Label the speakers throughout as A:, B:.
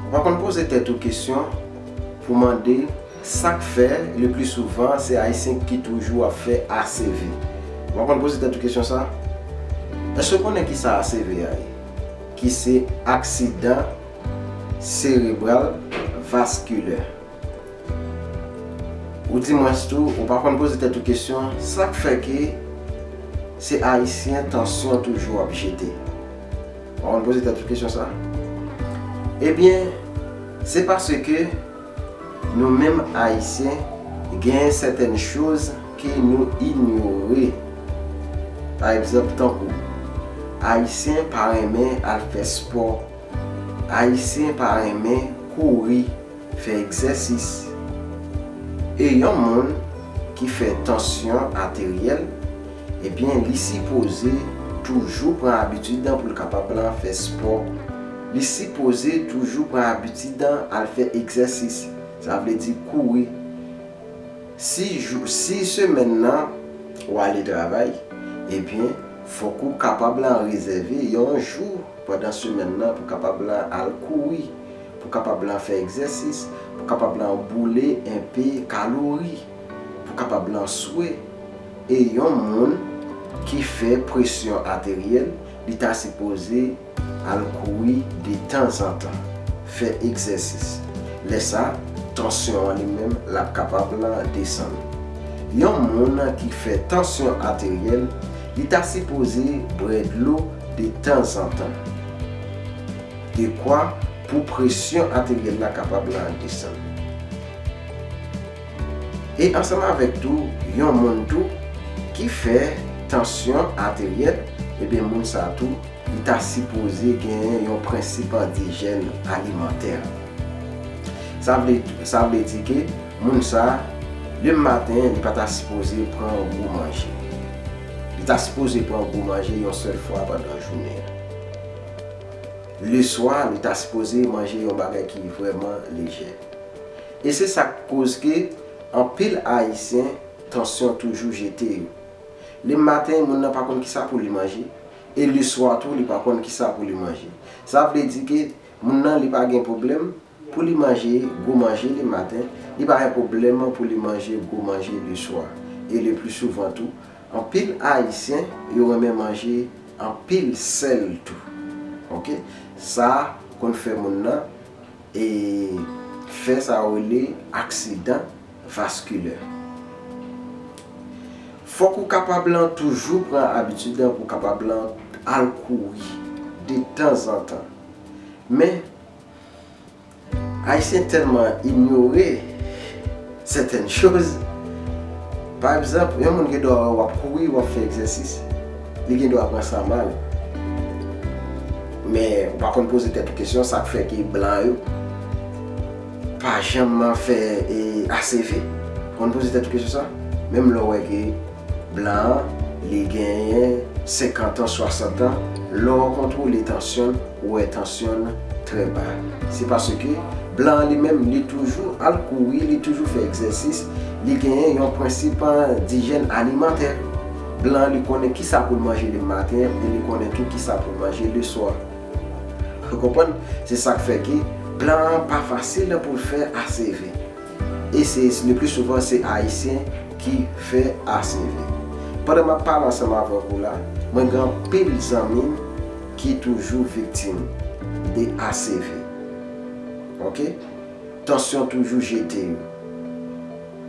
A: Ou pa konn poze tèt ou kesyon pou mande sak fè le pli souvan se ayisyen ki toujou ap fè ACV? Ou pa konn poze tèt ou kesyon sa? Eske w konnen kisa ACV a ye? Ki se aksidan serebral vaskilè. Ou di mwens tou ou pa konn poze tèt ou kesyon sak fè ke se ayisyen tansyon toujou ap jete? Ou konn poze tèt ou kesyon sa? Ebyen, se paske nou menm Ayisyen gen sètèn choz ke nou inyore. Pa egzanp tankou, Ayisyen pa renmen al fè spò, Ayisyen pa renmen kouri. Fè egzèsis. E yon moun ki fè tansyon ateryèl, ebyen li sipoze toujou pran abitid an pou l kapab lan fè spò. Li sipoze toujou pran abitid an al fè egzèsis. Sa vle di kouri. Si jou, si semèn nan ou ale travay, ebyen fòk ou kapab lan rezève yon jou pandan semèn nan pou kapab lan al kouri. Pou kapab lan fè egzèsis, pou kapab lan boule enpe kalori, pou kapab lan swe. E yon moun ki fè presyon ateryèl, li ta sipoze al kouri detanzantan, fè egzèsis. Lè sa, tansyon an li menm l ap kapab lan desann. Yon moun ki fè tansyon ateryèl, li ta sipoze bwè dlo detanzantan. Dekwa pou presyon ateryèl la kapab la desann. E ansanm avèk tou yon moun tou ki fè tansyon ateryèl, ebyen moun sa tou li ta sipoze genyen yon prensip an dijèn alimantè. Sa vle sa vle di ke moun sa le maten li pa ta sipoze pran yon gwo manje. Li ta sipoze pran gwo manje yon sèl fwa pandan jounen an. Leswa li ta sipoze manje yon bagay ki vrèman lejè. E se sak koz ke anpil ayisyen tansyon toujou jete yo. Le maten moun nan pa konn kisa pou li manje e leswa tou li pa konn kisa pou li manje. Sa vle di ke moun nan li pa gen pwoblèm. Pou li manje gwo manje le maten, li pa gen pwoblèm pou li manje gwo manje le swa, e le pli souvan tou. Anpil Ayisyen yo renmen manje anpil sèl tou. Ok. Sa konn fè moun nan e fè sa yo rele aksidan vaskilè. Fòk ou kapab lan toujou pran abitid pou kapab lan al kouri de tanzantan. Men. Ayisyen tèlman inyore sètèn choz, pa egzanp, yon moun gen dwa wè w ap kouri, w ap fè egzèsis, li gen dwa pran sa mal. Men, ou pa konn poze tèt ou kesyon sa k fè ke blan yo pa janman fè ACV? Ou konn poze tèt ou kesyon sa? Menm lè w wè ke. Blan an, li genyen 50 an, 60 an, lè w kontwole tansyon l, ou wè tansyon l trè ba. Se paske blan an li menm li toujou al kouri, li toujou fè egzèsis, li genyen yon prensip dijèn alimantè. Blan an li konnen ki sa pou l manje le maten e li konnen tou ki sa pou l manje le swa. Ou konprann? Se sa k fè ke blan an pa fasil pou l fè aseve. E se le pli souvan se Ayisyen ki fè ACV. Pandan map pale ansanm avèk ou la, mwen gen anpil zanmim ki toujou viktim de ACV. Ok. Tansyon toujou jete yo.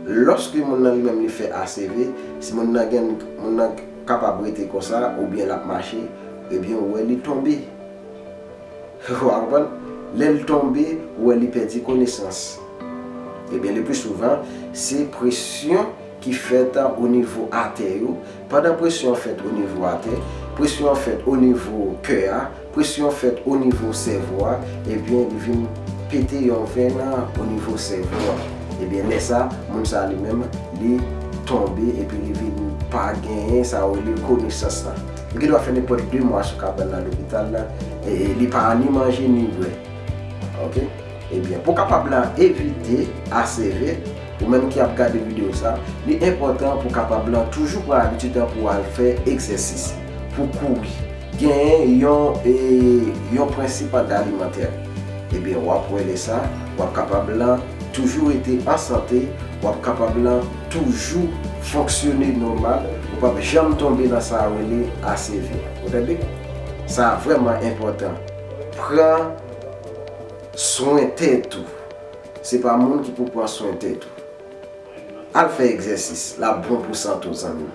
A: Lòske moun nan li menm li fè ACV, si moun nan gen moun nan kapab rete konsa oubyen lap mache, ebyen ou wè li tonbe. Ou aprann? Lè l tonbe, ou wè li pèdi konesans. Ebyen lepli souvan, se presyon ki fèt o nivo atè yo, pandan presyon an fèt o nivo atè, presyon an fèt o nivo kè a, presyon an fèt o nivo sèvo a, ebyen li vin pete yon venn o nivo sèvo a. Ebyen lè sa, moun sa li menm li tonbe epi li vin pa genyen sa yo rele konesans la. Li gen dwa fè nenpòt 2 mwa sou kabann nan lopital la e li pa an ni manje ni bwè. Ok. Ebyen, pou w kapab la evite HCV, ou menm ki ap gade videyo sa, li enpòtan pou w kapab la toujou pran abitid an pou w al fè egzèsis, pou w kouri. Genyen yon e yon prensip an alimantè. Ebyen, w ap wè lè sa, w ap kapab la toujou rete an sante, w ap kapab la. toujou fonksyone nòmal, ou pap janm tonbe nan sa yo rele ACV. Ou tande? Sa vrèman enpòtan. Pran swen tèt ou. Se pa moun ki pou pran swen tèt ou. Al fè egzèsis, l ap bon pou sante w zanmi m.